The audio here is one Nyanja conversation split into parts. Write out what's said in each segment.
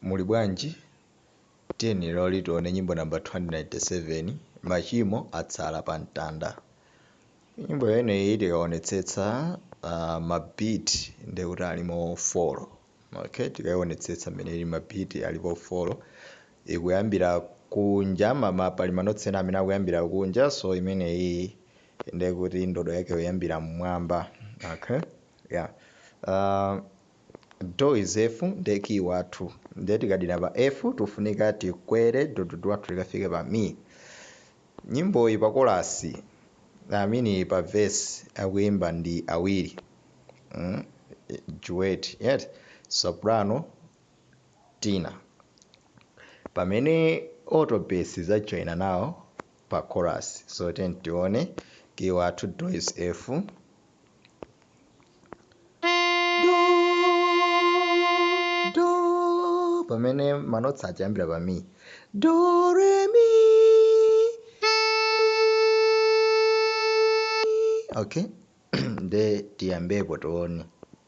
Muli bwanji? Tiyeni leroli tione nyimbo namba 297, Machimo atsala pa mtanda. Nyimbo imeneyi tikaonetsetsa ma beat ndekuti alimo fo, okay? Tikaionetsetsa mmene ilili ma beat alipo folo. Ikuyambira kunja, pali ma notes ena amene akuyambira kunja, so imeneyi ndekuti ndodo yake ikuyambira m'mwamba, okay? Yeah. Do is F nde key wathu nde tikadina pa F tikufunika tikwere do do do wathu tikafike pa Mi. Nyimboyi pa kolasi I mean pa verse akuimba ndi awiri mm duet eti soprano tenor pamene alto bass izajoina nawo pa chorus. So tiyeni tione key wathu do is F. do do pamene manotsi achiyambira pa mi do re mi okay nde tiyambepo tione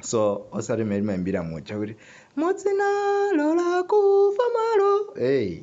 so osati mmene timayimbira muja kuti mudzina lola kufa malo hey